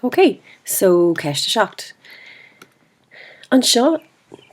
Ok, so ceist a seacht. Anseo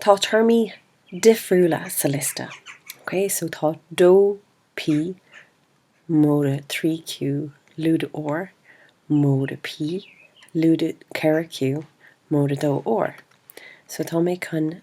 tá téarmaí difriúla sa liosta. Ok, so tá dó P, móide trí Q, lúide R, móide P, lúide ceithre Q, móide dó R. So tá mé chun.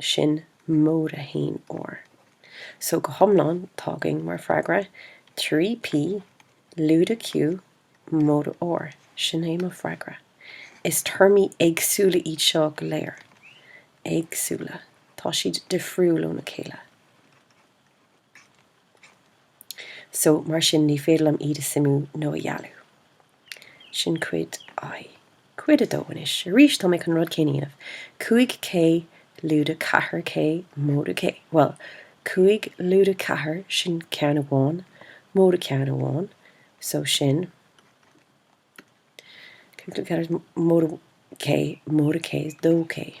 Sin móide a haon R. So go hiomlán, tá againn mar freagra, 3 P, lúide Q, móide R. Sin é mo freagra. Is téarmaí éagsúla iad seo go léir. Éagsúla. Tá siad difriúil óna chéile. So, mar sin, ní féidir liom iad a suimiú nó a dhealú. Sin cuid I. Cuid 2 anois. Arís, tá mé chun rud céanna dhéanamh. 5K lúide ceathair K móide K. Bhuel, 5 lúide ceathair, sin ceann amháin, móide ceann amháin. So sin. K móide K is dó K.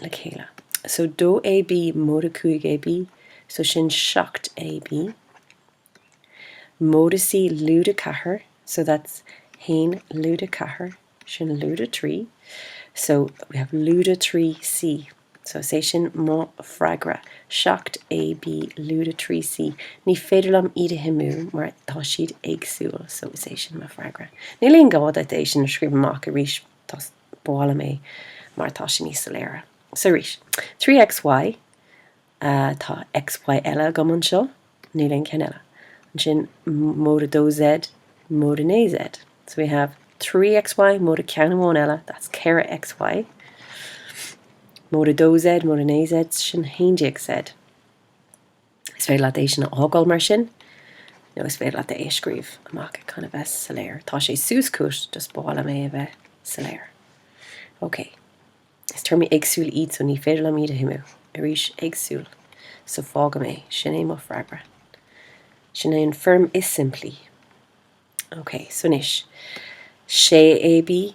le chéile. So dó AB móide 5AB, so sin 7AB, móide C lúide 4, so that's 1 lúide 4, sin lúide 3, so we have lúide 3C, so is é sin mo freagra, 7AB lúide 3C. Ní féidir liom iad a shuimiú mar tá siad éagsúil, so is é sin mo freagra. Níl aon gá duit é sin a scríobh amach arís, tá ba mhaith liom é mar tá sé níos soiléire. So arís, trí X, Y, tá X, Y eile agam anseo, níl aon cheann eile. Ansin, móide dó Z, móide naoi Z. So we have trí X, Y, móide ceann amháin eile, that's ceithre X, Y. Móide dó Z, móide naoi Z, sin haon déag Z. Is féidir leat é sin a fhágáil mar sin, nó is féidir leat é a scríobh amach chun a bheith soiléir. Tá sé suas chugat, just b'fhearr liom é a bheith soiléir. Ok. Is téarmaí éagsúil iad so ní féidir liom iad a shuimiú. Arís, éagsúil. So fágaim é. Sin é mo freagra. Sin é an foirm is simplí. Ok, so anois. Sé AB,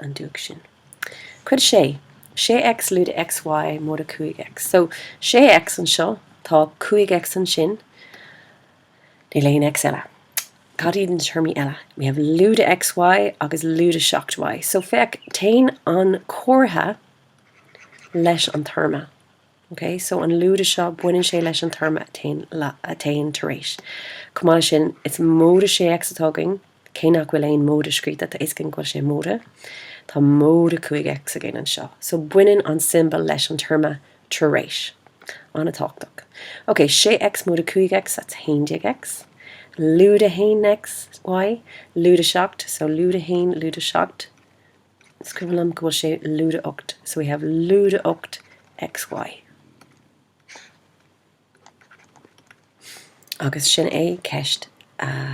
an dúch sin. Cuid 6, 6X lúide XY móide 5X. So, 6X anseo, tá 5X ansin, níl aon X eile. Cad iad na téarmaí eile? We have lúide XY agus lúide 7Y. So, féach, téann an comhartha leis an téarma. Ok so an lúide seo baineann sé leis an téarma a thagann tar éis. Chomh maith leis sin it's móide sé x atá againn, cé nach bhfuil aon móide scríofa tá fhios againn go bhfuil sé móide. Tá móide cúig x againn anseo. So baineann an siombail leis an téarma tar éis. An-tábhachtach. Ok sé x móide cúig x that's haon déag x. Lúide haon xy. Lúide seacht so lúide haon lúide seacht. Scríobhaim go bhfuil sé lúide 8 so we have lúide 8 xy. Agus sin é ceist a.